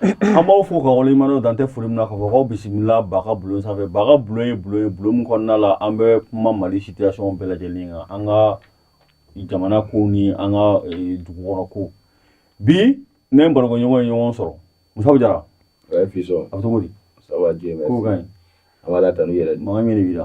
an b'aw fo k'aw waleɲumandɔn dan tɛ foli min na k'a fɔ k'aw bisimila ba ka bulon sanfɛ ba ka bulon ye bulon ye bulon min kɔnɔna la an bɛ kuma mali situation bɛɛ lajɛlen kan an ka jamana kow ni an ka eh, dugu kɔnɔ kow bi ne ni n barokɛɲɔgɔn ye ɲɔgɔn sɔrɔ musa b jara Ouais, puis ça, a bɛ cogo di ça va, Dieu merci. kow ka ɲi an bɛ ala tanu yɛrɛ la mankan min de b'i la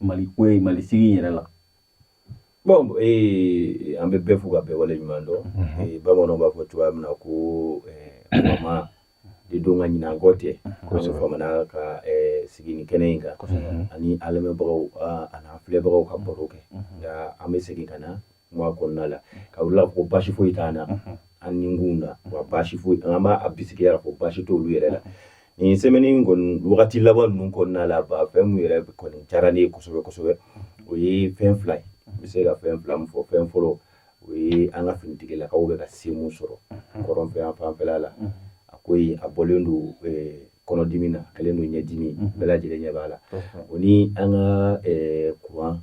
mali ko ye mali sigi in yɛrɛ la bon ee an bɛ bɛɛ fo ka bɛɛ wale ɲuman dɔn mhm. bamananw b'a fɔ cogoya min na ko fama de don nka ɲinan kɔ tɛ kosɛbɛ famana ka sigi nin kɛnɛ in kan an ni an lamɛnbagaw an'an filɛbagaw ka baro kɛ nka an bɛ segin ka na kuma kɔnɔna la k'a jira u la ko basi foyi t'an na an ni kun na wa basi foyi an b'a bisigiya ko basi t'olu yɛrɛ la nin sɛmɛni kɔni wagati laban ninnu kɔnɔna la ba fɛn min yɛrɛ kɔni diyara ne ye kosɛbɛ kosɛbɛ o ye fɛn fila ye n bɛ se ka fɛn fila min fɔ fɛn fɔlɔ o ye an ka finitigilakaw bɛ ka se min sɔrɔ kɔrɔn fɛ yan fanfɛla la a ko yen a bɔlen don kɔnɔdimi na kɛlen don ɲɛdimi bɛɛ lajɛlen ɲɛ b'a la o ni an ka kuran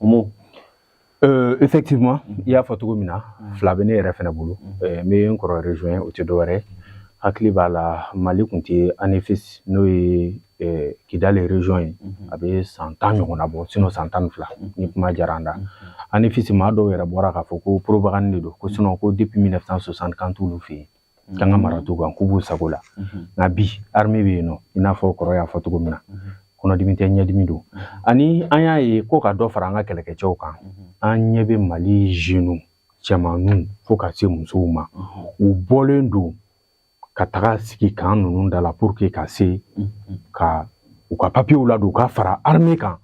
Omo Euh, effectivement mm-hmm. i y'a fɔ cogo min na mm-hmm. fila bɛ ne yɛrɛ fana bolo mm-hmm. euh, n bɛ n kɔrɔ rejoint o tɛ dɔwɛrɛ hakili b'a la mali tun tɛ anefis n'o ye euh, kidali region ye a bɛ san tan ɲɔgɔnna bɔ sinɔ san tan ni fila ni kuma diyara an da anefis maa dɔw yɛrɛ bɔra k'a fɔ ko propagande de don ko sinɔ ko depuis 1960 kan t'olu fɛ yen k'an ka mara t'u kan k'u b'u sago la nka bi arime bɛ yen nɔ i n'a fɔ kɔrɔ y'a fɔ cogo min na kɔnɔdimi tɛ ɲɛdimi don ani an y'a ye ko ka dɔ fara an ka kɛlɛkɛcɛw kan an ɲɛ bɛ mali zenu cɛmanninw fo ka se musow ma u bɔlen don ka taga sigi kan ninnu da la pour que ka se ka u ka papiyew ladon ka fara arime kan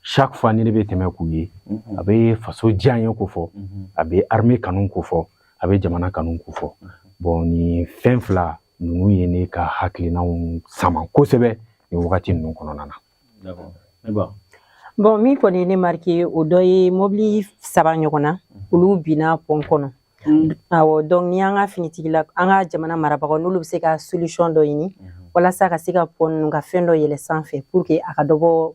chaque fois ni ne bɛ tɛmɛ k'u ye a bɛ faso diyanye kofɔ a bɛ armée kanu kofɔ a bɛ jamana kanu kofɔ bon nin fɛn fila ninnu ye ne ka hakilinaw sama kosɛbɛ nin wagati ninnu kɔnɔna na bon min kɔni ye ne marike o dɔ ye mɔbili saba ɲɔgɔn na olu binna pɔn kɔnɔ awɔ donc ni an ka finitigila an ka jamana marabagaw n'olu bɛ se ka solution dɔ ɲini walasa ka se ka pɔn ninnu ka fɛn dɔ yɛlɛ sanfɛ pour que a ka dɔ bɔ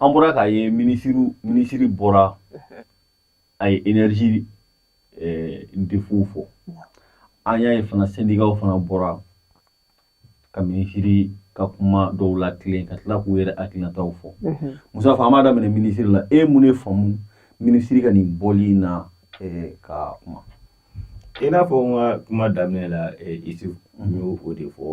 an bɔra k'a ye mi minisiri bɔra a ye energie defow fɔ an y'a ye fana sendikaw fana bɔra ka minisiri ka kuma dɔw latilen ka tila k'u yɛrɛ hakilinataw fɔ musa fɔ an b'a daminɛ minisiri la e mun ne faamu minisiri ka nin bɔli in na ka kuma I n'a fɔ n ka kuma daminɛ la Isuf n y'o de fɔ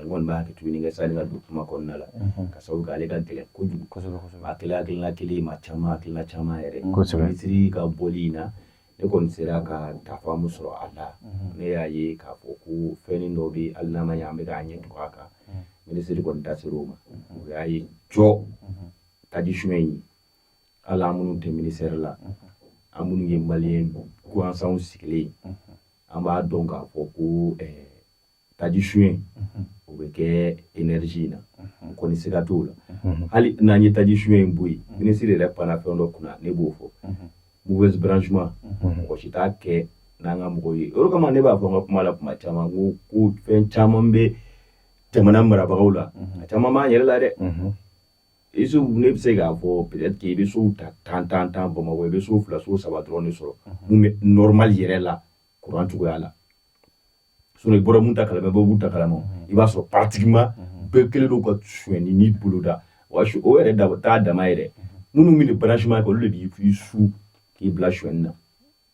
n kɔni b'a kɛ tuguni kɛ sani ka don kuma kɔnɔna la ka sabu kɛ ale ka gɛlɛn kojugu kosɛbɛ kosɛbɛ a kɛlen hakilina kelen ye maa caman hakilina caman yɛrɛ kosɛbɛ minisiri ka bɔli in na ne kɔni sera ka n ta faamu sɔrɔ a la ne y'a ye k'a fɔ ko fɛnnin dɔ bɛ hali n'a ma ɲɛ an bɛ k'an ɲɛ tugu a kan minisiri kɔni da ser'o ma o y'a ye cɔ taji suɲɛ in ye hali an minnu tɛ ministère la an minnu ye maliyɛn gansanw sigilen an b'a dɔn k'a fɔ ko eh, taji suɲɛ o bɛ kɛ enerji in na n kɔni siga t'o la hali n'an ye taji suɲɛ in bɔ yen minisiri yɛrɛ panna fɛn dɔ kunna ne b'o fɔ mauvaise branchement mɔgɔ si t'a kɛ n'an ka mɔgɔw ye o de kama ne b'a fɔ n ka kuma la kuma caman ko ko fɛn caman bɛ jamana marabagaw la a caman b'an yɛrɛ la dɛ Isuf ne bɛ se k'a fɔ peut-être i bɛ so ta tan bamakɔ i bɛ so fila so saba dɔrɔn de sɔrɔ min bɛ normal yɛrɛ la kuran cogoya la sinon i bɔra min ta kalama bɛɛ b'u ta kalama i b'a sɔrɔ pratiquement bɛɛ kɛlen don ka sonyɛni boloda wa Isuf o yɛrɛ da taa dama yɛrɛ minnu bɛ branchement kɛ olu de b'i su k'i bila sonyɛni na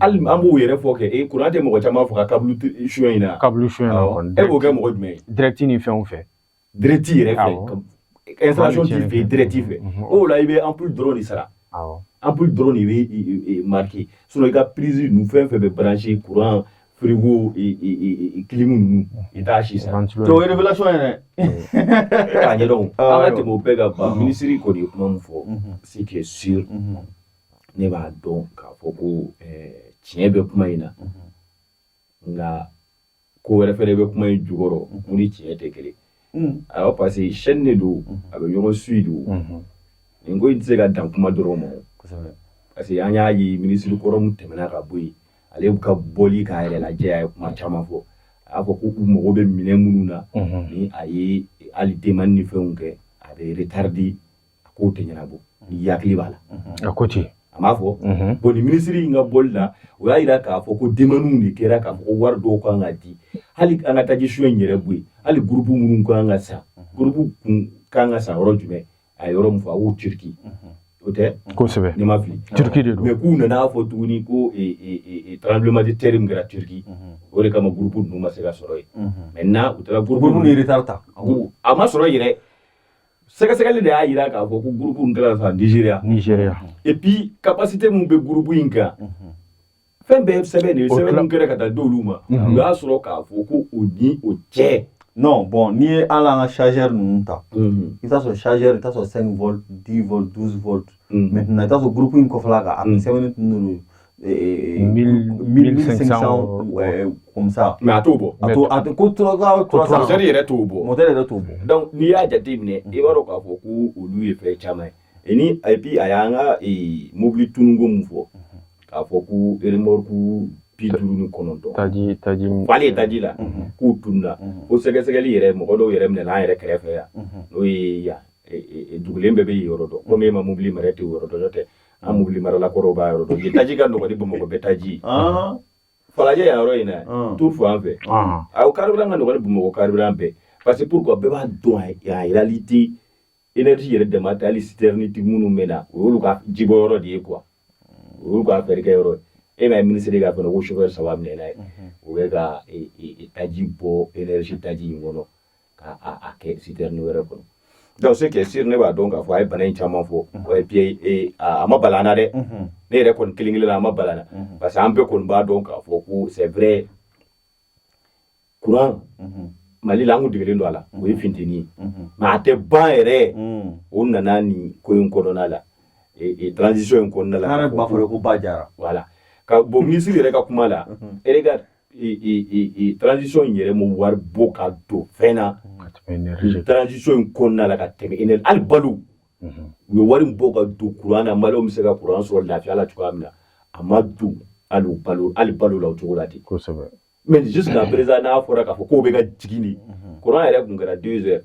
Hali an b'o yɛrɛ fɔ kɛ e kuran tɛ mɔgɔ caman faga câble suɲɛ in na câble suɲɛ e b'o kɛ mɔgɔ jumɛn ye direct ni fɛnw fɛ direct yɛrɛ fɛ direct fɛ o la i bɛ ampoule dɔrɔn de sara ampoule dɔrɔn de bɛ marqué sinon i ka prise ninnu fɛn fɛn bɛ branché kuran frigo clim ninnu i t'a si sara to yɛrɛ yɛrɛ k'a ɲɛ an ka tɛmɛ o bɛɛ kan ban minisiri kɔni ye kuma min fɔ ce qui est sûr ne b'a dɔn k'a fɔ ko eh, tiɲɛ bɛ kuma in na nka ko wɛrɛ fɛnɛ bɛ kuma in jukɔrɔ min ni tiɲɛ tɛ kelen awɔ parce que chaîne de don a bɛ ɲɔgɔn suit de o nin ko in tɛ se ka dan kuma dɔrɔn ma o parce que an y'a ye minisiri kɔrɔ min tɛmɛna ka bɔ yen ale ka bɔli k'a yɛrɛ lajɛ a ye kuma caman fɔ a y'a fɔ ko u mago bɛ minɛn minnu na ni a ye hali demande ni fɛnw kɛ a bɛ retarder a k'o tɛ ɲɛnabɔ n'i hakili b'a la a ko ten a b'a fɔ bon ni minisiri in ka bɔli la o y'a yira k'a fɔ ko demande de kɛra k'a fɔ ko wari dɔw kan ka di hali an ka taji suɲɛ in yɛrɛ bɔ yen hali gurupu minnu kan ka san gurupu kun kan ka san yɔrɔ jumɛn a ye yɔrɔ min fɔ a ko turiki o tɛ kosɛbɛ ne ma fili turiki de don mais k'u nana fɔ tuguni ko tremblement de terre min kɛra turiki o de kama gurupu ninnu ma se ka sɔrɔ yen maintenant u taara gurupu ninnu ye retard ta a ma sɔrɔ yɛrɛ sɛgɛsɛgɛli de y'a yira k'a fɔ ko gurupu in kɛra san nizeriya nizeriya et puis capacité min bɛ gurupu in kan fɛn bɛɛ sɛbɛn de ye sɛbɛn min kɛra ka taa d'olu ma u y'a sɔrɔ k'a fɔ ko o ni o cɛ non bon n'i ye hali an ka chargeur ninnu ta i t'a sɔrɔ chargeur i t'a sɔrɔ 5 volt 10 volt 12 volt maintenant i t'a sɔrɔ gurupu in kɔfɛla kan a kun sɛbɛnnen tun n'olu ye Et, 1000, 1500 ouais, comme ça mais a t'o bɔ a to a to ko trois trois cents mɔtɛri yɛrɛ t'o bɔ mɔtɛri yɛrɛ t'o bɔ donc n'i y'a jateminɛ i b'a dɔn k'a fɔ ko olu ye fɛn caman ye ni et puis a y'an ka mobili tununko min fɔ k'a fɔ ko remorque bi duuru ni kɔnɔntɔn taji taji falen ye taji la k'u tununa ko sɛgɛsɛgɛli yɛrɛ mɔgɔ dɔw yɛrɛ minɛna an yɛrɛ kɛrɛfɛ yan n'o ye yan dugulen bɛɛ bɛ yɔrɔ dɔn komi e ma mobili mara tɛ yɔrɔ dɔn n'o tɛ an mobili marala kɔrɔw b'a yɔrɔ dɔn yen taji ka nɔgɔ ni Bamakɔ bɛɛ taji ah. Falajɛ yan yɔrɔ in na ah. tu fɔ an fɛ ah. aw carburant ka nɔgɔ ni Bamakɔ carburant bɛɛ parce que pourquoi bɛɛ b'a dɔn en réalité énergie yɛrɛ dama tɛ hali citerne minnu bɛ na o y'olu ka jibɔ yɔrɔ de ye quoi o y'olu ka fɛɛrɛ kɛ yɔrɔ ye e m'a ye minisiri ka fɛnɛ ko chauffeur saba minɛna yen u bɛ ka taji bɔ énergie taji in kɔnɔ k'a kɛ sitɛrɛni wɛrɛ kɔnɔ donc ce qui est sûr ne b'a dɔn k'a fɔ a ye bana in caman fɔ et puis e, a ma bala an na dɛ ne yɛrɛ kɔni kelen kelen na a ma bala n na parce que an bɛɛ kɔni b'a dɔn k'a fɔ ko c'est vrai kuran Mali la an kun degelen don a la o ye finteni ye mais a tɛ ban yɛrɛ o nana nin ko in kɔnɔna la e, e, transition in kɔnɔna la voilà ka bon minisiri yɛrɛ ka kuma la regarde transition in yɛrɛ ma wari bɔ ka don fɛn na transition in kɔnɔna la ka tɛmɛ énergie hali balo u ye wari bɔ ka don kuran na maliyɛnw bɛ se ka kuran sɔrɔ lafiya la cogoya min na a ma don hali u balo hali balo la o cogo la ten kosɛbɛ mais jusqu'à présent n'a fɔra k'a fɔ k'o bɛ ka jigin de kuran yɛrɛ tun kɛra deux heures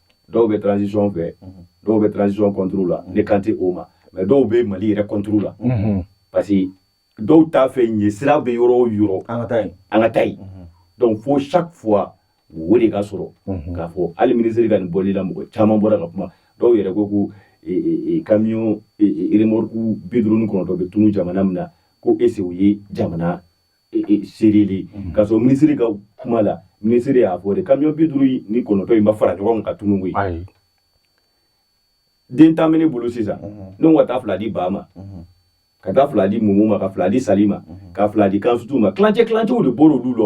dɔw bɛ transition fɛ dɔw bɛ transition contre la ne kan tɛ o ma mais dɔw bɛ Mali yɛrɛ contre la parce que dɔw t'a fɛ ɲɛ sira bɛ yɔrɔ o yɔrɔ an ka taa yen an ka taa yen donc fo chaque fois o de k'a sɔrɔ k'a fɔ hali minisiri ka nin bɔli la mɔgɔ caman bɔra ka kuma dɔw yɛrɛ ko ko camion remorque bi duuru ni kɔnɔntɔn bɛ tunun jamana min na ko est ce que o ye jamana sérieux ye k'a sɔrɔ minisiri ka kuma la minisiri y'a fɔ de kamiyɔn bi duuru ni kɔnɔntɔn in ma fara ɲɔgɔn kan ka tunun koyi den tan bɛ ne bolo sisan ne ka taa fila di Ba ma ka taa fila di Mumu ma ka fila di Sali ma ka fila di Kansutu ma tilancɛ tilancɛw de bɔra olu la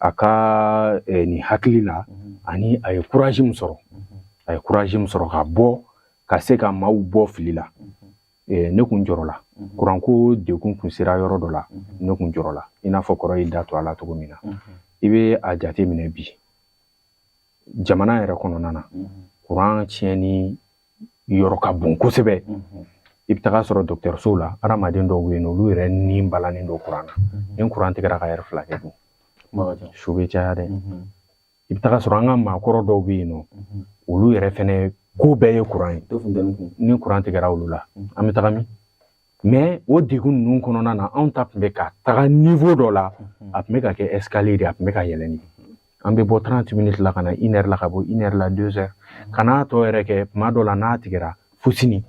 a ka eh, nin hakili la ani a ye kuraji min sɔrɔ a ye kuraji min sɔrɔ ka bɔ ka se ka maaw bɔ fili la eh, ne kun jɔrɔla kuranko dɛgun kun sera yɔrɔ dɔ la ne kun jɔrɔla i n'a fɔ kɔrɔ y'i da to a la cogo min na i bɛ a jate minɛ bi jamana yɛrɛ kɔnɔna na kuran tiɲɛni yɔrɔ ka bon kosɛbɛ i bɛ taga sɔrɔ dɔgɔtɔrɔsow la adamaden dɔw bɛ yen nɔ olu yɛrɛ ni balannen don kuran na ni kuran tigɛra ka lɛrɛ fila kɛ dun su bɛ caya dɛ i bɛ taga sɔrɔ an ka maakɔrɔ dɔw bɛ yen nɔ olu yɛrɛ fɛnɛ ko bɛɛ ye kuran ye ni kuran tigɛra olu la an bɛ taga min mais o degun ninnu kɔnɔna na anw ta tun bɛ ka taga niveau dɔ la a tun bɛ ka kɛ escalier de a tun bɛ ka yɛlɛn de an bɛ bɔ trente minutes la ka na une heure la ka bɔ une heure la deux heures ka n'a tɔ yɛrɛ kɛ tuma dɔ la n'a tigɛra fo sini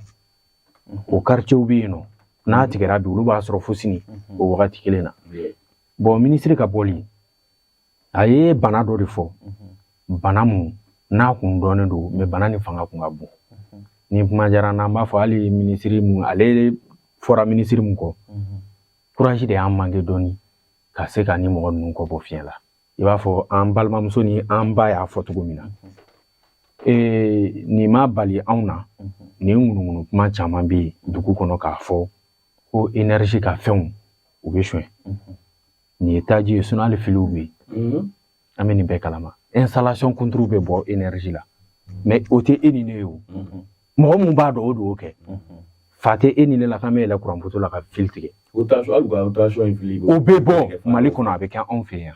o quartierw bɛ yen nɔ n'a tigɛra bi olu b'a sɔrɔ fo sini o wagati kelen na bon minisiri ka bɔli a ye bana dɔ de fɔ bana mun n'a kun dɔnnen don mais bana ni fanga kun ka bon ni kuma diyara n'an b'a fɔ hali minisiri mun ale fɔra minisiri mun kɔ courage de y'an manqué dɔɔni ka se ka nin mɔgɔ ninnu kɔ bɔ fiɲɛ la i b'a fɔ an balimamuso ni an ba y'a fɔ cogo min na ee nin ma bali anw na nin ŋunuŋunu kuma caman bɛ yen dugu kɔnɔ k'a fɔ ko énergie ka fɛnw u bɛ sonyɛ Nin ye taji ye sinon hali filiw bɛ yen an bɛ nin bɛɛ kalama installation kunturu bɛ bɔ énergie la mais o tɛ e ni ne ye o mɔgɔ min b'a dɔn o de y'o kɛ fa tɛ e ni ne la k'an bɛ yɛlɛ kuran poto la ka fili tigɛ o bɛ bɔ mali kɔnɔ a bɛ kɛ anw fɛ yan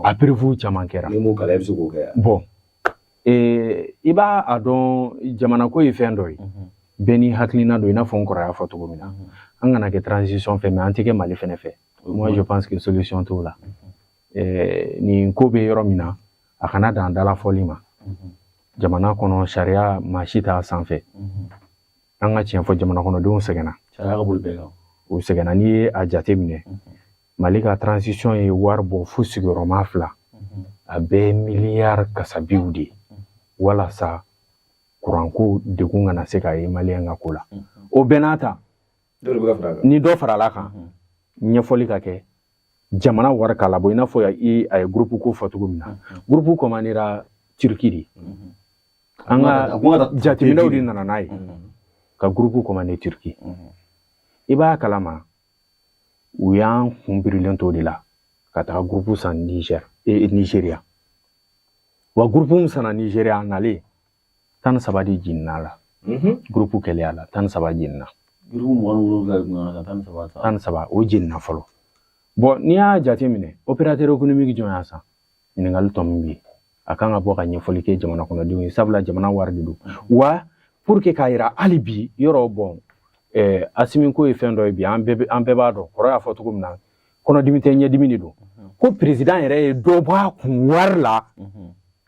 a preuve caman kɛra bon i b'a a dɔn jamana ko ye fɛn dɔ ye bɛɛ n'i hakilina don i n'a fɔ n kɔrɔ y'a fɔ cogo min na an kana kɛ transition fɛ mais an tɛ kɛ mali fana fɛ Moi, je pense que solution t'o la. Eh, nin ko bɛ yɔrɔ min na a kana dan dalafɔli ma jamana kɔnɔ sariya maa si t'a sanfɛ an ka tiɲɛ fɔ jamana kɔnɔdenw sɛgɛnna u sɛgɛnna n'i ye a jate minɛ mali ka transition ye wari bɔ fo sigiyɔrɔma fila a bɛɛ miliyari kasabiw de walasa kuranko degun kana se ka ye maliyɛn ka ko la o bɛɛ n'a ta ni dɔ farala a kan ɲɛfɔli ka kɛ jamana wari k'a labɔ i n'a fɔ a ye gurupu ko fɔ cogo min na gurupu kɔmandera turiki de an ka jateminɛw de nana n'a ye ka gurupu kɔmande turiki i b'a kalama u y'an kun birilen to de la ka taga gurupu san nizeriya wa gurupu min sanna nizeriya a nalen tan ni saba de jiginna a la gurupu kɛlen a la tan ni saba jiginna gurupu mugan ni wolonwula de kun ka tan ni saba tan ni saba o jiginna fɔlɔ bon n'i y'a jateminɛ opérateur économique jɔn y'a san ɲininkali tɔ min bɛ yen a kan ka bɔ ka ɲɛfɔli kɛ jamana kɔnɔdenw ye sabula jamana wari de don wa pour que k'a yira hali bi yɔrɔ bon Asimi ko ye fɛn dɔ ye bi an bɛɛ b'a dɔn kɔrɔ y'a fɔ cogo min na kɔnɔdimi tɛ ɲɛdimi de don ko perezidan yɛrɛ ye dɔ bɔ a kun wari la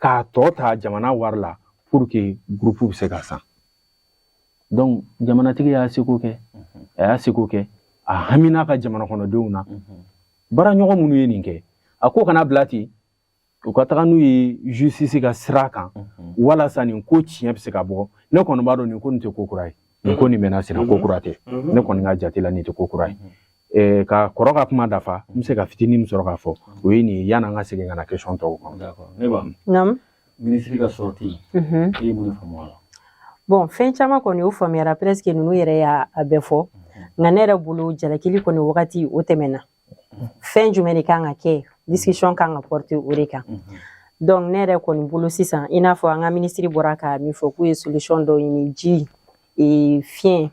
k'a tɔ ta jamana wari la pour que gurupu bɛ se ka san donc jamanatigi y'a seko kɛ a y'a seko kɛ a hamina ka jamana kɔnɔdenw na baara ɲɔgɔn minnu ye nin kɛ a ko kana bila ten u ka taga n'u ye justice ka sira kan walasa nin ko tiɲɛ bɛ se ka bɔ ne kɔni b'a dɔn nin ko nin tɛ ko kura ye nin ko nin mɛnna sira ko kura tɛ ne kɔni ka jate la nin tɛ ko kura ye ka kɔrɔ ka kuma dafa n bɛ se ka fitinin min sɔrɔ k'a fɔ o ye nin ye yanni an ka segin ka na question tɔw kan ne b'a naamu minisiri ka sortie e ye mun faamu a la bon fɛn caman kɔni o faamuyara presque ninnu yɛrɛ y'a bɛɛ fɔ nka ne yɛrɛ bolo jalakili kɔni wagati o tɛmɛna fɛn jumɛn de kan ka kɛ discussion kan ka porter o de kan donc ne yɛrɛ kɔni bolo sisan i n'a fɔ an ka minisiri bɔra ka min fɔ k'u ye solution dɔ ɲini ji e, fiɲɛ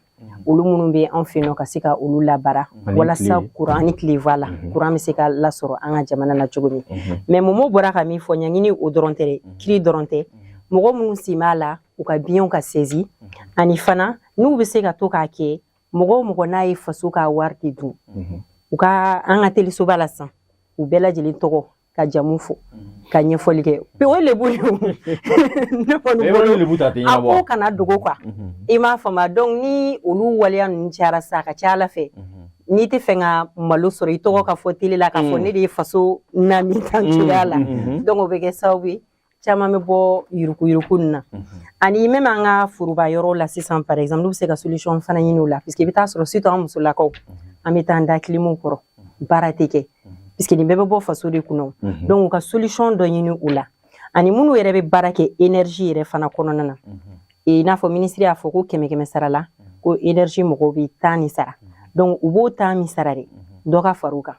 olu minnu bɛ an fɛ yen ka se ka olu labaara walasa kuran ni tile voilà kuran bɛ se ka lasɔrɔ an ka jamana na cogo min mais Momo bɔra ka min fɔ ɲangini o dɔrɔn tɛ kiri dɔrɔn tɛ mɔgɔ minnu sen b'a la u ka biens ka saisi ani fana n'u bɛ se ka to k'a kɛ mɔgɔ o mɔgɔ n'a ye faso ka wari de dun u ka an ka telesoba la san u bɛɛ lajɛlen tɔgɔ ka jamu fɔ ka ɲɛfɔli kɛ o ye lebu ye ne kɔni bolo a ko kana dogo quoi i m'a faamuya donc ni olu waleya ninnu cayara sa a ka ca a la fɛ n'i tɛ fɛ ka malo sɔrɔ i tɔgɔ ka fɔ tele la k'a fɔ ne de ye faso naani tan cogoya la donc o bɛ kɛ sababu ye caman bɛ bɔ yurukuyuruku nin na ani même an ka foroba yɔrɔ la sisan par exemple n'u bɛ se ka solution fana ɲini o la puisque i bɛ taa sɔrɔ surtout an musolakaw an bɛ taa an da kilimu kɔrɔ baara tɛ kɛ puisque nin bɛɛ bɛ bɔ faso de kunna donc u ka solution dɔ ɲini u la ani minnu yɛrɛ bɛ baara kɛ énergie yɛrɛ fana kɔnɔna na i n'a fɔ minisiri y'a fɔ ko kɛmɛ kɛmɛ sara la ko énergie mɔgɔw bɛ tan ni sara donc u b'o tan min sara de dɔ ka fara u kan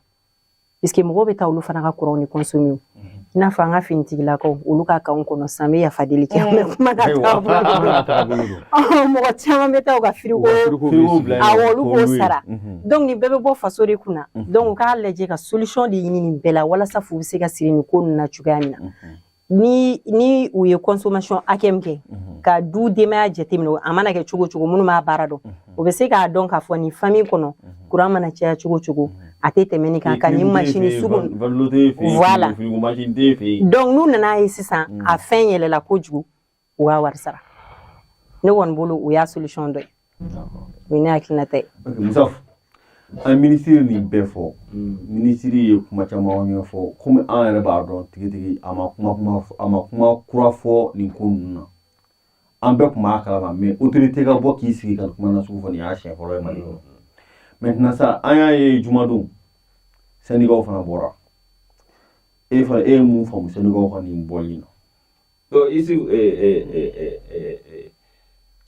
Puisque mɔgɔw bɛ taa olu fana ka courant nin consommer o, unhun, i n'a fɔ an ka finitigilakaw olu ka kanw kɔnɔ sisan n bɛ yafa deli kɛ, mais kuma ka taabolo de, kuma ka taabolo de, ɔhɔ, mɔgɔ caman bɛ taa u ka frigo, frigo bila yen, awɔ, olu b'o sara, unhun, donc nin bɛɛ bɛ bɔ faso de kunna, unhun, donc u k'a lajɛ ka solution de ɲini nin bɛɛ la walasa fu bɛ se ka siri nin ko ninnu na cogoya min na, unhun. ni ni u ye consommation hakɛ min kɛ mhm. ka du denbaya jateminɛ a mana kɛ cogo cogo minnu b'a baara dɔn mhm. o bɛ se k'a dɔn k'a fɔ nin famille kɔnɔ kuran mhm. mana caya cogo cogo a tɛ tɛmɛ nin kan ka nin masini sugu voilà donc n'u nana ye sisan a fɛn yɛlɛla kojugu u ka wari sara ne kɔni bolo o y'a solution dɔ ye o ye ne hakilinata ye musa an ye minisiri nin bɛɛ fɔ minisiri ye kuma caman ɲɛfɔ komi an yɛrɛ b'a dɔn tigitigi a ma kuma kuma a ma kuma kura fɔ nin ko ninnu na an bɛɛ tun b'a kalama mais autorité ka bɔ k'i sigi ka kuma nasugu fɔ nin y'a siɲɛ fɔlɔ ye mali kɔnɔ maintenant sa an y'a ye jumadon syndicat fana bɔra e fana e ye mun faamu syndicat ka nin bɔli na Bon i sigi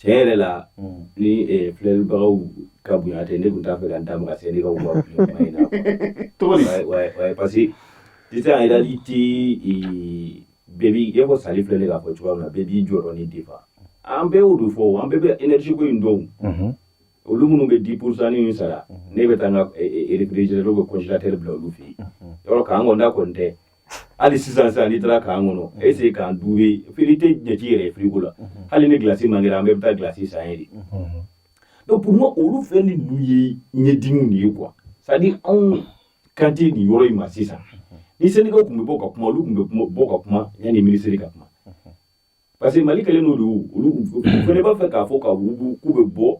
tiɲɛ yɛrɛ la ni filɛbagaw ka bonya tɛ ne tun t'a fɛ ka n da maga sendika ka kuma in na parce que sisan en réalité bɛɛ b'i e ko Sali filɛ de k'a fɔ cogoya min na bɛɛ b'i jɔyɔrɔnin défendre an bɛɛ b'o dɔn fɔ an bɛɛ bɛ énergie ko in dɔn olu minnu bɛ 10 pourcent in sara ne bɛ taa n ka erez bɛ kɔsitɛ bila olu fɛ yen yɔrɔ k'an kɔnɔnda kɔni tɛ hali sisan sisan n'i taara k'an kɔnɔ essayer k'an duwe fili tɛ jate yɛrɛ firigo la hali ni gilasi mankera an bɛɛ bɛ taa gilasi san ye de donc pour moi olu fɛn ni ninnu ye ɲɛdimiw de ye quoi c'est à dire anw kan tɛ nin yɔrɔ in ma sisan ni sendikaw tun bɛ bɔ ka kuma olu tun bɛ bɔ ka kuma yanni minisiri ka kuma parce que mali kɛlen don de olu fana b'a fɛ k'a fɔ ka wugu k'u bɛ bɔ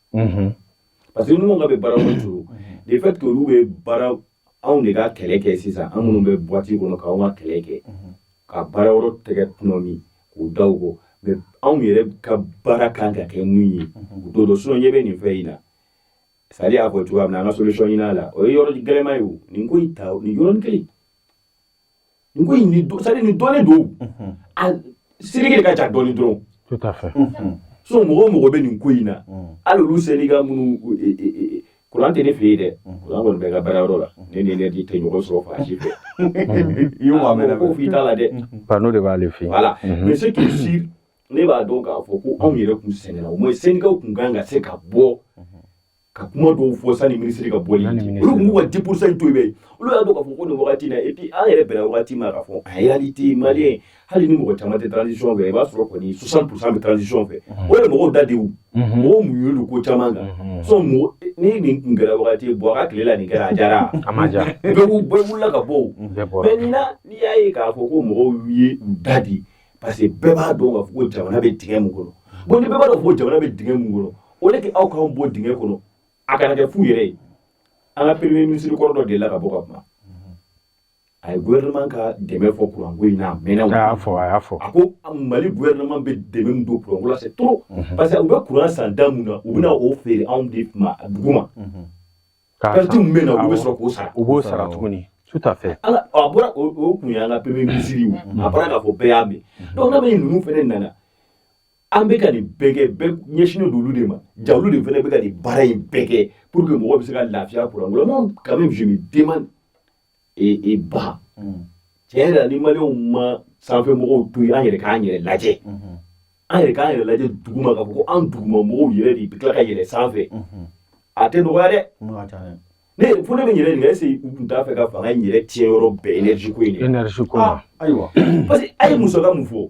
parce que ninnu ka bɛ baarayɔrɔ détruire le fait que olu bɛ baara anw de ka kɛlɛ kɛ sisan an minnu bɛ buwati kɔnɔ k'anw ka kɛlɛ kɛ ka baarayɔrɔ tɛgɛ tɔnɔmi k'u da u kɔ mais anw yɛrɛ ka baara kan ka kɛ mun ye u t'o dɔn sinon ɲɛ bɛ nin fɛn in na Sali y'a fɔ cogoya min na an ka solution ɲin'a la o ye yɔrɔ gɛlɛman ye o nin ko in ta nin yɔrɔnin kelen Nin ko in don c'est à dire nin dɔnnen don o unhun a l seleke de ka ca dɔɔni dɔrɔn tout à fait unhun sinon mɔgɔ o mɔgɔ bɛ nin ko in na unhun hali olu sendika minnu u- e- e- e- e- kuran tɛ ne fɛ yen dɛ kuran kɔni bɛ n ka baarayɔrɔ la ne ni énergie tɛ ɲɔgɔn sɔrɔ fan si fɛ i y'o maa mɛnna ko f'i t'a la dɛ panneau de b'ale fɛ yen voilà Mhm. mais ce qui est sûr ne b'a dɔn k'a fɔ ko anw yɛrɛ tun sɛgɛnna au moins sendikaw tun kan ka se ka bɔ ka kuma dɔw fɔ sani minisiri ka bɔ olu tun b'u ka 10 pourcent in to yen olu y'a dɔn k'a fɔ ko nin wagati in na et puis an yɛrɛ bɛnna wagati ma k'a fɔ en réalité maliyɛn hali ni mɔgɔ caman tɛ transition fɛ i b'a sɔrɔ kɔni 60 pourcent bɛ transition fɛ o de ye mɔgɔw da de ye mɔgɔw muɲu don ko caman kan sinon ni nin tun kɛra wagati IBK tile la nin kɛra a diyara a ma diya bɛɛ wulila ka bɔ o mais nin na n'i y'a ye k'a fɔ ko mɔgɔw ye u da de parce que bɛɛ b'a dɔn k'a fɔ ko jamana bɛ dingɛ min kɔnɔ bon ni bɛɛ b'a dɔn ko jamana bɛ dingɛ min kɔnɔ o de kɛ aw k'anw bɔ dingɛ kɔnɔ a kana kɛ fu yɛrɛ ye an ka premier ministre kɔrɔ dɔ delila ka bɔ ka kuma a ye gouvernement ka dɛmɛ fɔ kuranko in na a mɛnna a y'a fɔ a y'a fɔ a ko mali gouvernement bɛ dɛmɛ min don kuranko la c'est trop parce que u bɛ kuran san da mun na u bɛna o feere anw de ma dugu ma Perte min bɛ na olu bɛ sɔrɔ k'o sara u b'o sara tuguni tout à fait a bɔra o kun an ka premier ministre a bɔra k'a fɔ bɛɛ y'a mɛn donc n'a bɛ ninnu fana nana an bɛ ka nin bɛɛ kɛ ɲɛsinnen don olu de ma jaa olu de fana bɛ ka nin baara in bɛɛ kɛ pour que mɔgɔ bɛ se ka lafiya kuranko la moi quand même je me de e e ba tiɲɛ yɛrɛ la ni maliw ma sanfɛ mɔgɔw to yen an yɛrɛ k'an yɛrɛ lajɛ an yɛrɛ k'an yɛrɛ lajɛ duguma k'a fɔ ko an duguma mɔgɔw yɛrɛ de bɛ tila ka yɛlɛ sanfɛ a tɛ nɔgɔya dɛ ne fo ne bɛ n yɛrɛ ɲininka est ce que u tun t'a fɛ ka fanga in yɛrɛ tiɲɛ yɔrɔ bɛɛ énergie ko in de la énergie ko la ayiwa parce que a ye musaka min fɔ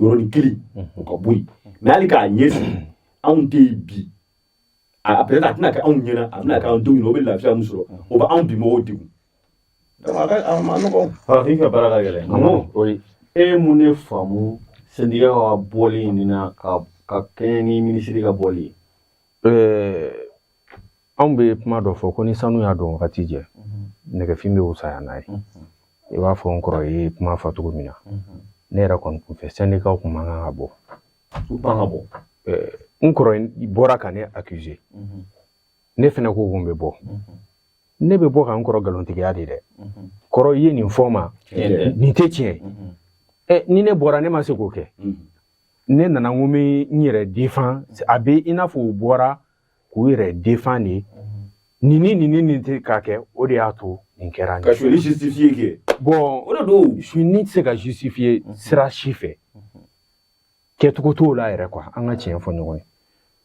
yɔrɔnin kelen o ka bɔ yen mɛ hali k'a ɲɛsin anw tɛ yen bi a peut-être a tɛna kɛ anw ɲɛna a bɛna kɛ anw denw ɲɛna o bɛ lafiya min sɔrɔ o bɛ anw bi mɔgɔw degun a ka a man nɔgɔn farafin ka baara ka gɛlɛn o ye e ye mun de faamu sɛndika ka bɔli nin na ka kɛɲɛ ni minisiri ka bɔli ye anw bɛ kuma dɔ fɔ ko ni sanu y'a don wagati jɛ nɛgɛfin bɛ wusaya n'a ye i b'a fɔ n kɔrɔ ye kuma fɔ cogo min na ne yɛrɛ kɔni kun fɛ sɛndikaw kun man kan ka bɔ ka bɔ n kɔrɔ bɔra ka ne akize ne fana ko ko n bɛ bɔ ne bɛ bɔ ka n kɔrɔ nkalontigiya de dɛ kɔrɔ i ye nin fɔ mɛ nin tɛ tiɲɛ ɛ ni ne bɔra ne ma se k'o kɛ ne nana n ko n bɛ n yɛrɛ defan a bɛ i n'a fɔ u bɔra k'u yɛrɛ defan de nin ni nin ni nin tɛ k'a kɛ o de y'a to nin kɛra ka sonyali justifiye kɛ bɔn o de don sonyali tɛ se ka justifiye sira si fɛ kɛcogo t'o la yɛrɛ kuwa an ka tiɲɛ fɔ ɲɔgɔn ye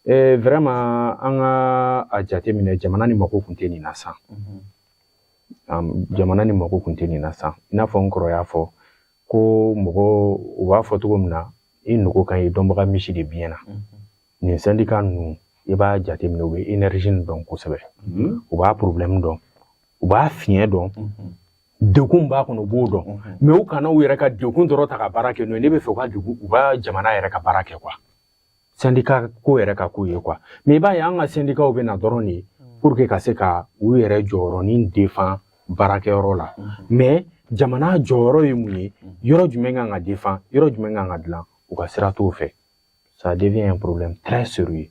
ɛɛ eh, vɛrɛma an ka a jateminɛ jamana nin mako kun tɛ nin na san jamana nin mako kun tɛ nin na san i n'a fɔ n kɔrɔ y'a fɔ ko mɔgɔ u b'a fɔ cogo min na i nugu kan ye dɔnbaga misi de biɲɛ na nin sɛndika ninnu i b'a jateminɛ u bɛ enerzi nin dɔn kosɛbɛ mhm. u b'a porobilɛmu dɔn u b'a fiɲɛ dɔn mhm. degun b'a kɔnɔ u b'o dɔn mhm. mɛ u kana u yɛrɛ ka degun dɔrɔn ta ka baara kɛ n'o ye ne b'a fɛ u ka degun u ka jamana yɛrɛ ka baara kɛ kuwa sɛndika ko yɛrɛ ka k'o ye kuwa mɛ i b'a ye an ka sɛndikaw bɛ na dɔrɔn de pour que ka se ka u yɛrɛ jɔyɔrɔnin defan baarakɛyɔrɔ la mɛ jamana jɔyɔrɔ ye mun ye yɔrɔ jumɛn kan ka defan yɔrɔ jumɛn kan ka dilan u ka sira t'o fɛ ça devient un problème très sérieux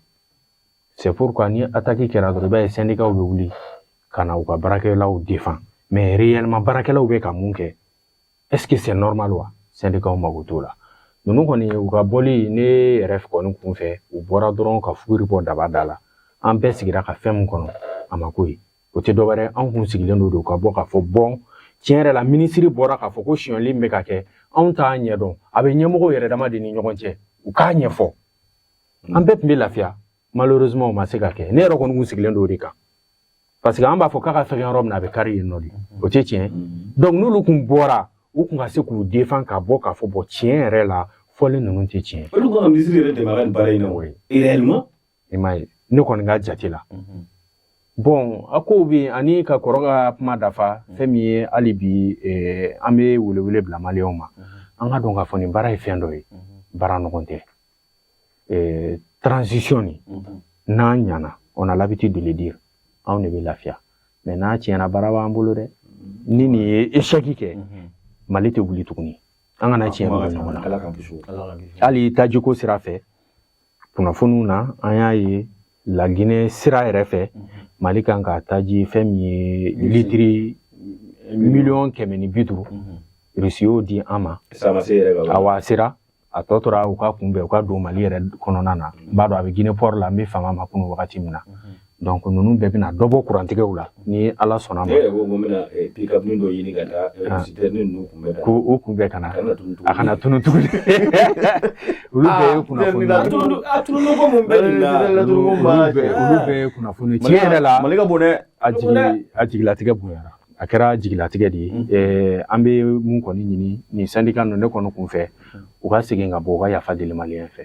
c'est pourquoi ni attaque kɛra dɔrɔn i b'a ye sɛndikaw bɛ wuli ka na u ka baarakɛlaw defan mais réellement baarakɛlaw bɛ ka mun kɛ est ce que c'est normal wa sɛndikaw mago t'o la ninnu kɔni u ka bɔli ne yɛrɛ kɔni kun fɛ u bɔra dɔrɔn ka fuguri bɔ daba da la an bɛɛ sigira ka fɛn min kɔnɔ a ma k'o ye o tɛ dɔwɛrɛ anw kun sigilen don ka bɔ k'a fɔ bɔn tiɲɛ yɛrɛ la minisiri bɔra k'a fɔ ko sonyali bɛ ka kɛ anw t'a ɲɛdɔn a bɛ ɲɛmɔgɔw yɛrɛ dama de ni ɲɔgɔn cɛ u k'a ɲɛfɔ an bɛɛ tun bɛ lafiya malheureusement o ma se ka kɛ ne yɛrɛ kɔni kun sigilen don o de kan parce que an b'a fɔ k'a ka fɛgɛn yɔrɔ min na a bɛ kari yen nɔ de o tɛ tiɲɛ donc n'olu kun bɔra u kun ka se k'u defan ka bɔ k'a fɔ bɔn tiɲɛ yɛrɛ la fɔlen ninnu tɛ tiɲɛ olu ka minisiri yɛrɛ dɛmɛ a ka nin baara in na o ye réellement i m'a ye ne kɔni ka jate la bon a kow bɛ yen ani ka kɔrɔ ka kuma dafa fɛn min ye hali bi eh, an bɛ welewele bila maliyɛnw ma an k'a dɔn k'a fɔ nin baara ye fɛn dɔ ye baara nɔgɔn tɛ eh, transition nin n'a ɲana on a l'habitude de le dire anw de bɛ lafiya mais n'a tiɲɛna baara b'an bolo dɛ ni nin ye échec kɛ mali tɛ wuli tuguni an kana tiɲɛ dogo ɲɔgɔn na hali tajiko sira fɛ kunnafoniw na an y'a ye laginɛ sira yɛrɛ fɛ mali kan ka taji fɛn min ye litiri miliyɔn kɛmɛ ni bi duuru rusi y'o di an ma awa a sera a tɔ tora u k'a kunbɛn u k'a don mali yɛrɛ kɔnɔna na n b'a dɔn a bɛ ginɛ pɔri la n bɛ fama ma kunu wagati min na donc ninnu bɛɛ bɛna dɔ bɔ kurantigɛw la ni ala sɔnna ma ko o kunbɛn ka na a kana tunu tuguni olu bɛɛ ye kunnafoni olu bɛɛ ye kunnafoni tiɲɛ yɛrɛ la mali ka bon dɛ a jigi a jigilatigɛ bonyara a kɛra jigilatigɛ de ye an bɛ mun kɔni ɲini nin sandika ninnu ne kɔni kun fɛ u ka segin ka bɔ u ka yafa deli maliyɛn fɛ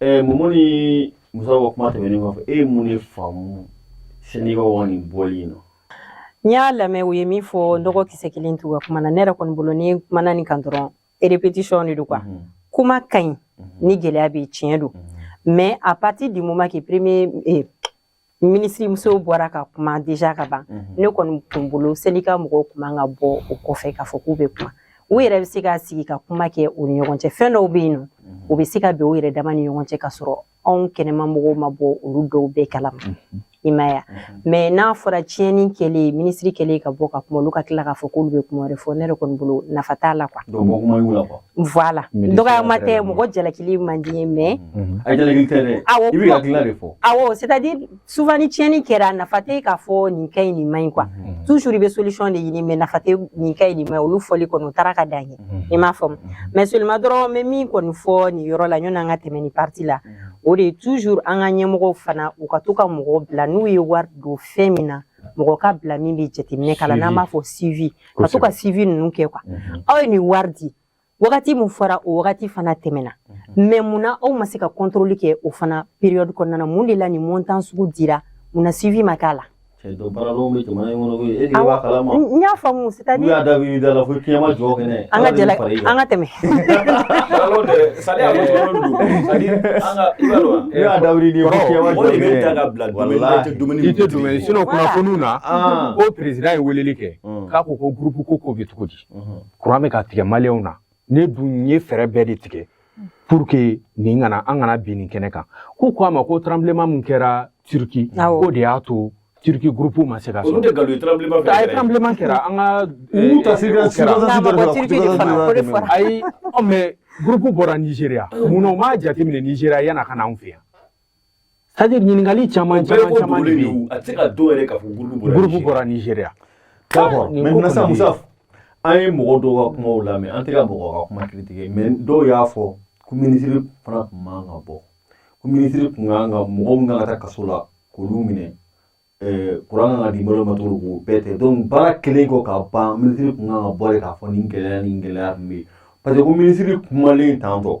Ɛɛ momo ni musa ka kuma tɛmɛnen kɔfɛ e ye mun de faamu sendika wa nin bɔli in na n y'a lamɛn u ye min fɔ kɔgɔ kisɛ kelen t'u ka kuma na ne yɛrɛ kɔni bolo ni kumana nin kan dɔrɔn répétition de don quoi mhm. kuma ka ɲi mhm. ni gɛlɛya bɛ tiɲɛ don mhm. mais à partir du moment que premier minisiri muso bɔra ka kuma déjà ka ban mhm. ne kɔni tun bolo sendika mɔgɔw kun man ka bɔ o kɔfɛ k'a fɔ k'u bɛ kuma u yɛrɛ bɛ se ka sigi ka kuma kɛ u ni ɲɔgɔn cɛ fɛn dɔw bɛ yen nɔ mhm. u bɛ se ka bɛn u yɛrɛ dama ni ɲɔgɔn cɛ ka sɔrɔ anw kɛnɛma mɔgɔw ma bɔ olu dɔw bɛɛ kalama mhm. i m'a ye mais n'a fɔra tiɲɛni kɛlen minisiri kɛlen ka bɔ ka kuma olu ka tila k'a fɔ k'olu bɛ kuma wɛrɛ fɔ ne yɛrɛ kɔni bolo nafa t'a la quoi Voilà dɔgɔyama tɛ mɔgɔ jalakili man di n ye mais Unhun. A jalaki tɛ dɛ. Awɔ, I b'i ka hakilina de fɔ. awɔ c'est à dire souvent ni tiɲɛni kɛra nafa tɛ k'a fɔ nin ka ɲi nin man ɲi quoi Unhun. toujours i bɛ solution de ɲini mais nafa tɛ nin ka ɲi nin man ɲi olu fɔli kɔni o taara ka dan yen i m'a faamu mais seulement dɔrɔn n bɛ min kɔni fɔ nin yɔrɔ la yanni an ka tɛmɛ nin partie la o de ye toujours an ka ɲɛmɔgɔw fana u ka to ka mɔgɔ bila n'u ye wari don fɛn min na mɔgɔ ka bila min bɛ jateminɛ k'a la n'an b'a fɔ suivi ka to ka suivi ninnu kɛ quoi aw ye nin wari di wagati min fɔra o wagati fana tɛmɛna mais mun na aw ma se ka contrôle kɛ o fana période kɔnɔna mun de la nin montant sugu dira mun na suivi ma k'a la y'a faamu kunnafoni na ko perez ye wele kɛ mm. k'a ko ko gurupu ko ko bɛ cogo di mm-hmm. kuran bɛ ka tigɛ maliyɛnw na ne dun ye fɛɛrɛ bɛɛ de tigɛ pour que nin kana an kana bin nin kɛnɛ kan ko ko a ma ko tranbilenma min kɛra turki k'o de y'a to turki gurupu ma se ka sɔrɔ olu de nkalon ye tranbilenma fɛ ye tranbilenma kɛra an ka u ta se ka ayi mais gurupu bɔra nizeriya mun na u m'a jateminɛ nizeriya yan'a ka na anw fɛ yan C'est-à-dire ɲininkali caman caman caman de don a tɛ ka dɔw yɛrɛ ka fɔ gurupu bɔra nizeriya mais sa musa an ye mɔgɔ dɔw ka kumaw lamɛn an tɛ ka mɔgɔ ka kuma kiri tigɛ mais dɔw y'a fɔ ko minisiri fana tun man ka bɔ ko minisiri tun kan ka mɔgɔ min kan ka taa kaso la k'olu minɛ kuran kan ka di mɔgɔ ma cogo k'o bɛɛ tɛ donc baara kelen kɔ ka ban minisiri tun kan ka bɔ de k'a fɔ nin gɛlɛya ni gɛlɛya tun bɛ yen parce que ko minisiri kumalen tantɔ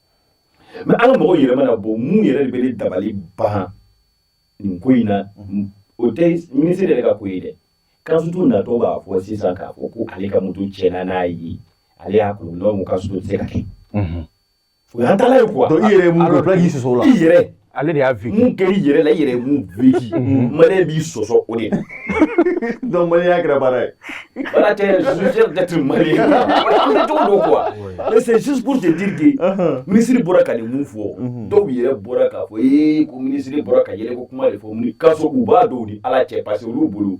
mais an ka mɔgɔw yɛrɛ mana bɔ mun yɛrɛ de bɛ ne dabali ban nin ko in na o tɛ minisiri yɛrɛ ka ko ye dɛ kansutu natɔ b'a fɔ sisan k'a fɔ ko ale ka moto tiɲɛna n'a ye ale y'a kun n'o kansutu tɛ se ka kɛ o ye ntalen ye quoi i yɛrɛ mun k'i sɔsɔ o la i yɛrɛ ale de y'a vécu mun kɛra i yɛrɛ la i yɛrɛ ye mun vécu maliyɛn b'i sɔsɔ o de la donc maliyɛnya kɛra baara ye voilà t'es jugé d'être maliyɛn an tɛ cogo dɔn quoi mais c'est juste pour te dire que minisiri bɔra ka nin mun fɔ dɔw yɛrɛ bɔra k'a fɔ ee ko minisiri bɔra ka yɛlɛko kuma de fɔ mun k'a sɔrɔ u b'a dɔn u ni ala cɛ parce que olu bolo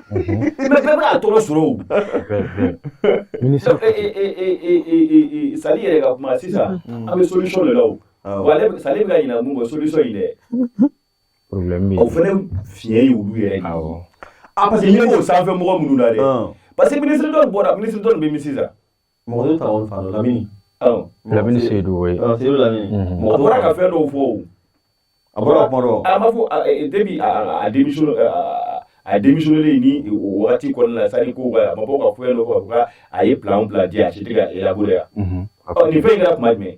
bɛɛ bɛ k'a tɔɔrɔ sɔrɔ o sali yɛrɛ ka kuma sisan an bɛ solution de la o wa ale sali bɛ ka ɲinɛ mun kɔ solution in dɛ problème bɛ yen o fana fiɲɛ ye olu yɛrɛ awɔ a parce que ɲɛ b'o sanfɛ mɔgɔ minnu na dɛ parce que ministre dɔ bɔra ministre dɔ nin bɛ min sisan mɔgɔ y'o ta o fa dɔ lamini lamini seyidu oui seyidu lamini mɔgɔ bɔra ka fɛn dɔw fɔ o a bɔra kuma dɔ a m'a fɔ depuis a démission a démissionnélen ni o wagati kɔnɔna la c'est-à-dire ko ka a ma bɔ ka fɛn dɔ fɔ a ye plan plan di a si tɛ ka élaborer yan nin fɛn in kɛra kuma jumɛn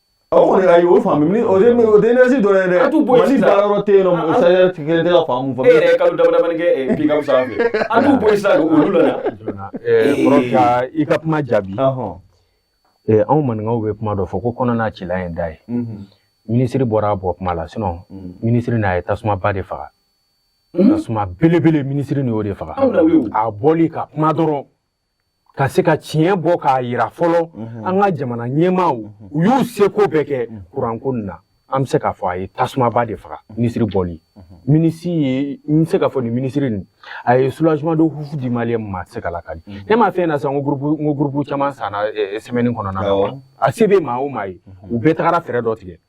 O kɔni ayi o faamu ni o tɛ énergie dɔrɔn dɛ tu bɔ si baara yɔrɔ tɛ yen nɔ stagiaire kelen tɛ faamu fɔ e yɛrɛ ye kalo damani kɛ pick-up sanfɛ a t'u bɔ sa olu la ka i ka kuma jaabi anw maninkaw bɛ kuma dɔ fɔ ko kɔnɔna cila ye da ye minisiri bɔra a bɔ kuma la sinon minisiri n'a ye tasuma ba de faga tasuma belebele minisiri nin y'o de faga a bɔli ka kuma dɔrɔn ka se ka tiɲɛ bɔ k'a yira fɔlɔ an ka jamana ɲɛmaaw u y'u seko bɛɛ kɛ kuranko nin na an bɛ se k'a fɔ a ye tasumaba de faga minisiri bɔli minisiri ye n bɛ se k'a fɔ nin minisiri nin a ye soulagement de ouf di maliyɛn ma a tɛ se ka lakali ne m'a fɛn na sisan n ko groupe n ko groupe caman sanna semaine kɔnɔna na a se bɛ maa o maa ye u bɛɛ tagara fɛɛrɛ dɔ tigɛ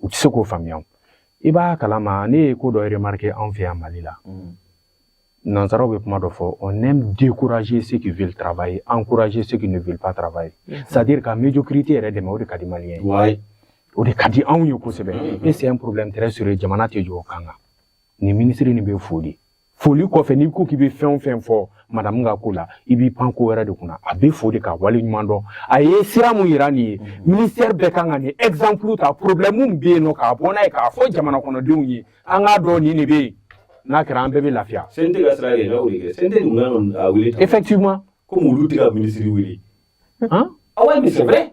u tɛ se k'o faamuya i b'a kalama ne ye ko dɔ remarqué anw fɛ yan mali la mm. nansaraw bɛ kuma dɔ fɔ on aime décourager ceux qui veulent travailler encourager ceux qui ne veulent pas travailler mm-hmm. c'est à dire ka médiocrité yɛrɛ dɛmɛ o de ka di maliyɛn ye o de ka di anw ye kosɛbɛ mm-hmm. et c'est un problème très sérieux jamana tɛ jɔ o kan kan nin minisiri nin bɛ foli foli kɔfɛ n'i ko k'i bɛ fɛn o fɛn fɔ madamu ka ko la i b'i pan ko wɛrɛ de kunna a bɛ fo de ka wale ɲuman dɔn a ye sira mun yira nin ye mm-hmm. ministère bɛɛ kan ka nin exemple ta problème min bɛ yen nɔ k'a bɔ n'a ye k'a fɔ jamana kɔnɔdenw ye an k'a dɔn nin de bɛ yen n'a kɛra an bɛɛ bɛ lafiya. CNT ka sira yɛlɛma o de kɛ CNT dun kan ka wele. effectivement. komi olu tɛ ka minisiri wele. han awa mais c'est vrai.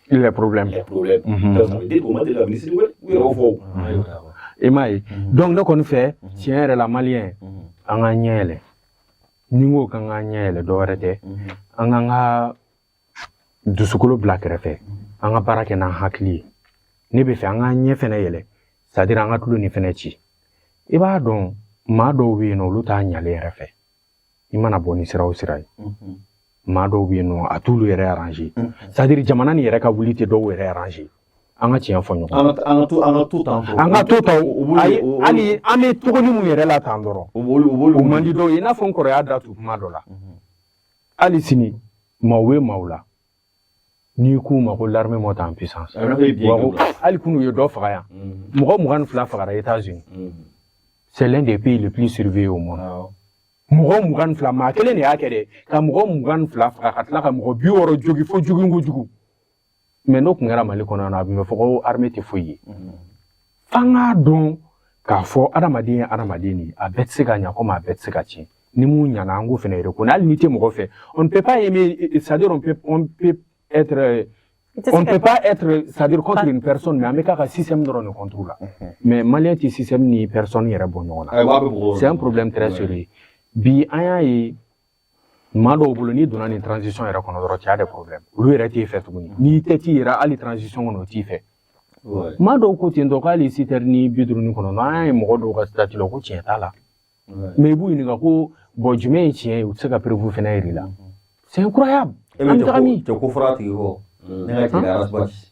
Il y a problème. Il y a problème. Mhm. Ça veut dire k'u ma deli ka ministre wele, u yɛrɛ y'o fɔ. I m'a ye mhm. donc ne kɔni fɛ mhm. tiɲɛ yɛrɛ la maliyɛn an ka ɲɛ yɛlɛ ni n ko k'an ka ɲɛ yɛlɛ dɔ wɛrɛ tɛ an k'an ka dusukolo bila kɛrɛfɛ an ka baara kɛ n'an hakili ye ne bɛ fɛ an k'an ɲɛ fɛnɛ yɛlɛ c'est à dire an ka tulo nin fɛnɛ ci i b'a dɔn maa dɔw bɛ yen nɔ olu t'a ɲalen yɛrɛ fɛ i mana bɔ ni sira o sira ye maa dɔw bɛ yen nɔ a t'olu yɛrɛ arranger c'est à dire jamana nin yɛrɛ ka wuli tɛ dɔw yɛrɛ arranger an ka tiɲɛ fɔ ɲɔgɔn an ka to tan hali an bɛ cogo nin mun yɛrɛ la tan dɔrɔn o man di dɔw ye i n'a fɔ n kɔrɔ y'a da tu kuma dɔ la hali sini maaw bɛ maaw la n'i k'u ma ko l'armée monte en puissance hali kunun u ye dɔ faga yan mm. mɔgɔ mugan ni fila fagara États-Unis mm. c'est l'un des pays le plus surveillé au monde ah. mɔgɔ mugan ni fila maa kelen de y'a kɛ dɛ ka mɔgɔ mugan ni fila faga ka tila ka mɔgɔ bi wɔɔrɔ jogi fo jugu kojugu mais n'o tun kɛra mali kɔnɔ yan a tun bɛ fɔ ko armée tɛ foyi ye mm. f'an k'a dɔn k'a fɔ adamaden ye adamaden de ye a bɛɛ tɛ se ka ɲa komi a bɛɛ tɛ se ka tiɲɛ ni mun ɲana an k'o fɛnɛ reconnaître hali n'i tɛ mɔgɔ fɛ on ne peut pas aimer c'est à dire on peut on peut être on ne peut pas être c'est à dire contre une personne mais an bɛ k'a ka système dɔrɔn de contre la mais maliyɛn tɛ système ni personne yɛrɛ bɔ ɲɔgɔn na c'est un problème très sérieux bi an y'a ye maa dɔw bolo n'i donna nin transition yɛrɛ kɔnɔ dɔrɔn tu as des problèmes olu yɛrɛ t'e fɛ tuguni n'i tɛ t'i yɛrɛ hali transition kɔnɔ u t'i fɛ maa dɔw ko ten tɔ k'hali citerne nin bi duuru ni kɔnɔntɔn an y'a ye mɔgɔ dɔw ka statut la ko tiɲɛ t'a la mais i b'u ɲininka ko bon jumɛn ye tiɲɛ ye u tɛ se ka preuve fɛnɛ yir'i la c'est incroyable an bɛ taga min cɛ ko fɔra a tigi kɔ ne ka tigi arasibasi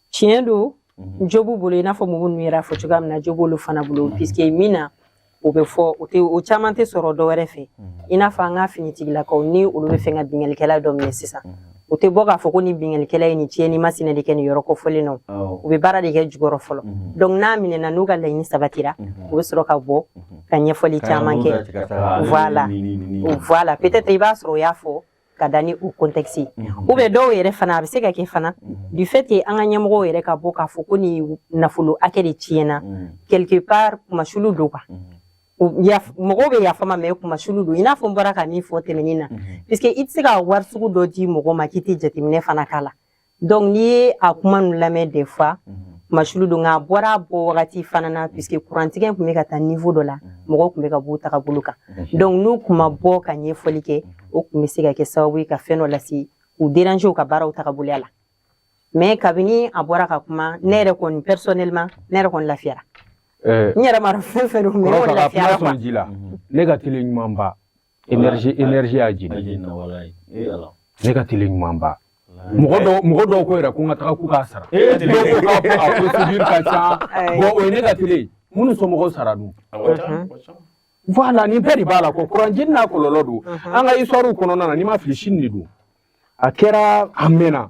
tiɲɛ don mhm. jo b'u bolo i n'a fɔ mɔgɔ ninnu yɛrɛ y'a fɔ cogoya min na jo b'olu fana bolo mhm. puisque min na o bɛ fɔ o tɛ o caman tɛ sɔrɔ dɔ wɛrɛ fɛ mhm. i n'a fɔ an ka finitigilakaw ni olu bɛ fɛ ka binkalikɛla dɔ minɛ sisan u tɛ bɔ k'a fɔ ko nin binkalikɛla ye nin tiɲɛni masina de kɛ nin yɔrɔ kofɔlen na u bɛ baara de kɛ jukɔrɔ fɔlɔ donc n'a minɛna n'u ka laɲini sabatira u bɛ sɔrɔ ka bɔ ka ɲɛfɔli caman kɛ voilà voilà peut-être i b'a sɔrɔ o y'a fɔ ka da ni o contexte ye ou bien dɔw yɛrɛ fana a bɛ se ka kɛ fana du fait que an ka ɲɛmɔgɔw yɛrɛ ka bɔ k'a fɔ ko nin nafolo hakɛ de tiɲɛna quelque part kunmasuli don quoi mɔgɔw bɛ yafa n ma mais kunmasuli don i n'a fɔ n bɔra ka min fɔ tɛmɛnen na puisque i tɛ se ka wari sugu dɔ di mɔgɔ ma k'i tɛ jateminɛ fana k'a la donc n'i ye a kuma ninnu lamɛn des fois kunmasuli don nka a bɔra a bɔ wagati fana na puisque kurantigɛ tun bɛ ka taa niveau dɔ la mɔgɔw tun bɛ ka b'u tagabolo kan donc n'u tun ma bɔ ka ɲɛfɔli kɛ o tun bɛ se ka kɛ sababu ye ka fɛn dɔ lase u déranger u ka baaraw tagaboloya la mais kabini a bɔra ka kuma ne yɛrɛ kɔni personnellement ne yɛrɛ kɔni lafiyara n yɛrɛ ma dɔn fɛn fɛn don mais ne kɔni lafiyara quoi ne ka télé ɲumanba Énergie énergie y'a jeni. A jenina walayi. Ee Ala. Ne ka télé ɲuman ba. Mɔgɔ dɔw mɔgɔ dɔw ko yɛrɛ ko n ka taga k'u k'a sara. Ee télé. Dɔw ko k'a ko a procédure ka ca. Ayi. Bon o ye ne ka télé ye. Minnu somɔgɔw sara dun? A ka ca, a ka ca. Voilà nin bɛɛ de b'a la quoi. Courant jeni n'a kɔlɔlɔ don. An ka histoire kɔnɔna na ni n ma fili Chine de don. A kɛra a mɛnna.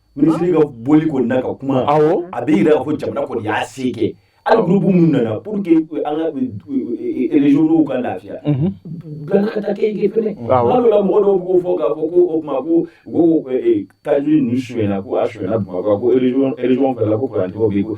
minisiri ka bɔli kɔni na ka kuma a bɛ jira k'a fɔ jamana kɔni y'a se kɛ hali gurupu minnu nana pour que an ka erezyɔnw ka lafiya bila ka taa kɛ fɛnɛ hali la mɔgɔ dɔw b'o fɔ k'a fɔ ko o tuma ko ko taji ninnu sonyɛna ko a sonyɛna bamakɔ ko erezyɔn fɛnɛ ko kurantigɛw bɛ ko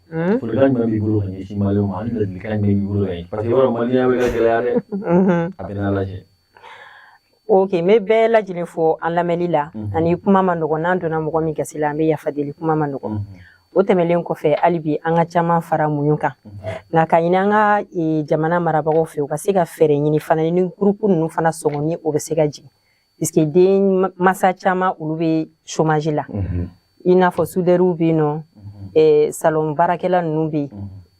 Folikan jumɛn b'i bolo ka ɲɛsin Maliyɛnw ma ani ladilikan jumɛn b'i bolo ka ɲɛsin parce que i b'a dɔn Maliyɛnya bɛ ka gɛlɛya dɛ a bɛ n'a lajɛ ok n bɛ bɛɛ lajɛlen fo an lamɛnni la ani kuma man nɔgɔn n'an donna mɔgɔ min gasi la an bɛ yafa deli kuma man nɔgɔn o tɛmɛlen kɔfɛ hali bi an ka caman fara muɲu kan nka ka ɲini an ka jamana marabagaw fɛ u ka se ka fɛɛrɛ ɲini fana ni gurupu ninnu fana sɔngɔ ni o bɛ se ka jigin puisque denmasa caman olu bɛ chômage la i n'a fɔ sudɛriw bɛ yen nɔ eh, salon baarakɛla ninnu bɛ yen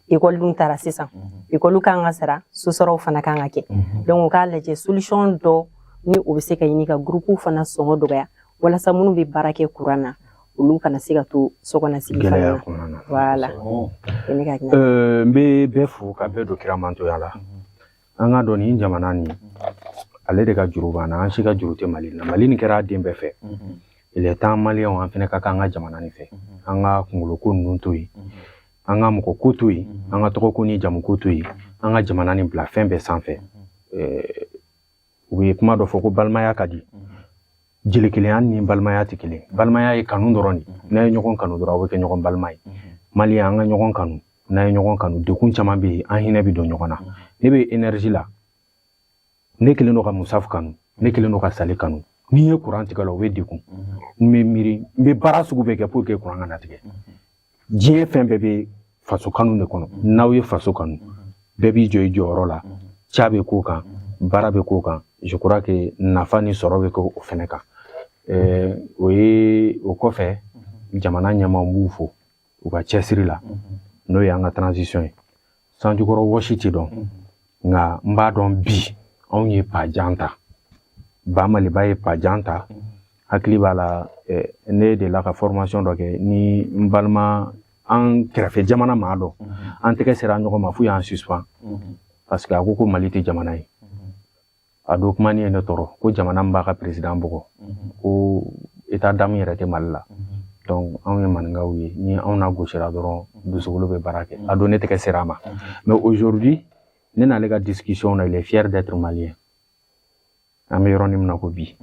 ekɔli dun taara sisan ekɔli kan ka sara sosaraw fana kan ka kɛ donc u k'a lajɛ solution dɔ ni o bɛ se ka ɲini ka gurupuw fana sɔngɔ dɔgɔya walasa minnu bɛ baara kɛ kuran na olu kana se ka to sokɔnɔsigi fana gɛlɛya na kɔnɔna na voilà o ye ne ka ɲɛ Euh, n bɛ bɛɛ fo ka bɛɛ don kira mantonya la an k'a dɔn nin jamana nin ale de ka juru b'an na an si ka juru tɛ mali la mali nin kɛra a den bɛɛ fɛ il est temps maliyɛnw an fana ka kɛ an ka jamana nin fɛ an ka kungolo ko ninnu to yen an ka mɔgɔ ko to yen an ka tɔgɔ ko ni jamu ko to yen an ka jamana nin bila fɛn bɛɛ sanfɛ u ye kuma dɔ fɔ ko balimaya ka di jeli kelenya ni balimaya tɛ kelen balimaya ye kanu dɔrɔn de n'a ye ɲɔgɔn kanu dɔrɔn aw bɛ kɛ ɲɔgɔn balima ye maliyɛn an ka ɲɔgɔn kanu n'an ye ɲɔgɔn kanu degun caman bɛ yen an hinɛ bɛ don ɲɔgɔn na ne bɛ énergie la ne kelen don ka musa kanu ne kelen don ka sali kanu n'i ye kuran tigɛ la o bɛ degun n bɛ miiri n bɛ baara sugu bɛɛ kɛ pour que kuran kana tigɛ diɲɛ fɛn bɛɛ bɛ faso kanu de kɔnɔ n'aw ye faso kanu bɛɛ b'i jɔ i jɔyɔrɔ la ca bɛ k'o kan baara bɛ k'o kan je crois que nafa ni sɔrɔ bɛ kɛ o fɛnɛ kan o ye o kɔfɛ jamana ɲɛmaaw b'u fo u ka cɛsiri la n'o y'an ka transition ye sanjikɔrɔ wɔsi tɛ dɔn nka n b'a dɔn bi anw ye pas jan ta ba maliba ye pas jan ta hakili b'a la ne delila ka formation dɔ kɛ ni n balima an kɛrɛfɛ jamana maa dɔ an tɛgɛ sera ɲɔgɔn ma f'u y'an suspend parce que a ko ko mali tɛ jamana ye a don kuma nin ye ne tɔɔrɔ ko jamana min b'a ka peresidan bugɔ ko état d'âme yɛrɛ tɛ mali la donc anw ye maninkaw ye ni anw nagosira dɔrɔn dusukolo bɛ baara kɛ a don ne tɛgɛ sera a ma mais aujourd'hui ne n'ale ka discussion na il est fier d'être malien an bɛ yɔrɔnin min na ko bi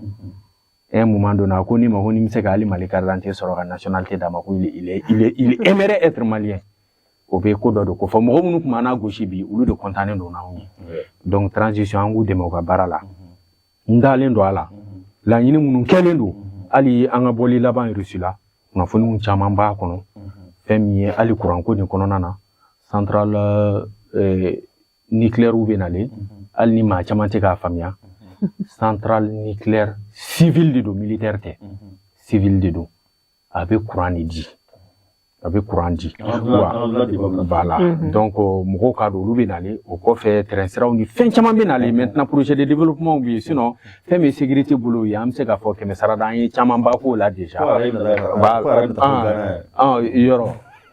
un moment donné a ko ne ma ko ni n bɛ se ka hali mali carte d'identité sɔrɔ ka nationalité d'a ma ko il est il est il est aimerait être malien o bɛ ko dɔ de kofɔ mɔgɔ minnu tun b'an nagosi bi olu de kɔntannen don n'anw ye donc transition an k'u dɛmɛ u ka baara la n dalen don a la laɲini minnu kɛlen don hali an ka bɔli laban Russie la kunnafoniw caman b'a kɔnɔ fɛn min ye hali kuranko nin kɔnɔna na centrale eh, nucléaire bɛ nalen hali ni maa caman tɛ k'a faamuya centrale nucléaire civile de don militaire tɛ civile de don a bɛ kuran de di a bɛ kuran di voilà donc mɔgɔw k'a dɔn olu bɛ nalen o kɔfɛ tɛrɛnsiraw ni fɛn caman bɛ nalen maintenant projet de développementw bɛ yen sinɔn fɛn min ye sécurité bolo ye an bɛ se k'a fɔ kɛmɛ sarada an ye camanba k'o la déjà yɔrɔ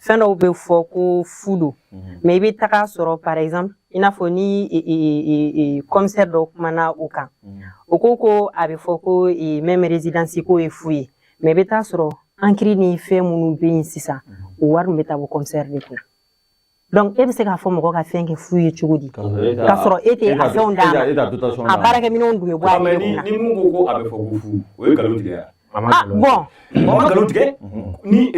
fɛn dɔw bɛ fɔ ko fu don mhm. mɛ i bɛ taga sɔrɔ par exemple i n'a fɔ ni kɔmisɛri dɔ kumana o kan mhm. o ko ko a bɛ fɔ ko mɛmɛ rezidansi ko ye fu ye mɛ i bɛ taa sɔrɔ ankiri ni fɛn minnu bɛ yen sisan mhm. o wari min bɛ taa bɔ kɔmisɛri de kunna donc e bɛ se k'a fɔ mɔgɔ ka fɛn kɛ fu ye cogo di k'a sɔrɔ e tɛ a fɛnw d'a ma a baarakɛminɛnw dun bɛ bɔ a yɛrɛ kunna ni mun ko ko a bɛ fɔ ko fu o ye nkalon tigɛ bɔn a ma nkalon tigɛ ni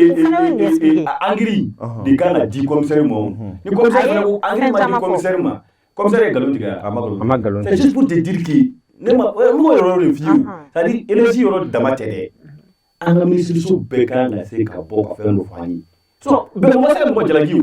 ankiri de kan ka di kɔmisɛri ma ni kɔmisɛri fana ko ankiri ma di kɔmisɛri ma kɔmisɛri ye nkalon tigɛ a ma nkalon a ma nkalon c'est juste pour te dire que ne ma n b'o yɔrɔ de f'i ye c'est à dire énergie yɔrɔ dama tɛ dɛ an ka minisiriso bɛɛ kan ka se ka bɔ ka fɛn dɔ f'an ye sinon bɛɛ ma se ka mɔgɔ jalaki o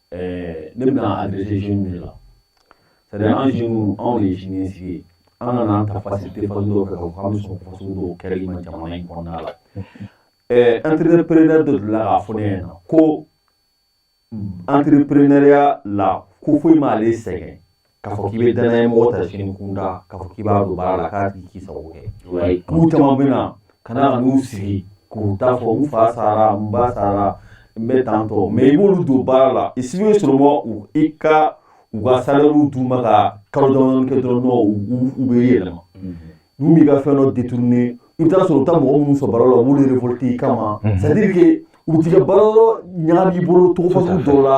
ɛɛ ne bɛna adresser jeunes de la c'est à dire an jeunes anw de ye siniɲɛsigi ye an kan'an ta facilité fasugu dɔw fɛ k'a fɔ k'an bɛ sɔn fasugu dɔw kɛli ma jamana in kɔnɔna la ɛɛ entrepreneur dɔ delila k'a fɔ ne ɲɛna ko entrepreneuriat la ko foyi m'ale sɛgɛn K'a fɔ k'i bɛ dannaya mɔgɔ ta sini kunda k'a fɔ k'i b'a don baara la k'a tigi k'i sago kɛ k'u caman bɛ na ka na ka n'u sigi k'u t'a fɔ n fa sara n ba sara n bɛ tan tɔ mais i b'olu don baara la i si bɛ sɔrɔ mɔ u i ka u ka salaire d'u ma ka kalo dɔɔni kɛ dɔrɔn nɔ u bɛ yɛlɛma n'u b'i ka fɛn dɔ détourner i bɛ taa sɔrɔ u bɛ taa mɔgɔ minnu sɔrɔ baara la u b'olu révolter i kama c'est à dire que u t'i ka baara yɔrɔ ɲagami i bolo cogo fasugu dɔw la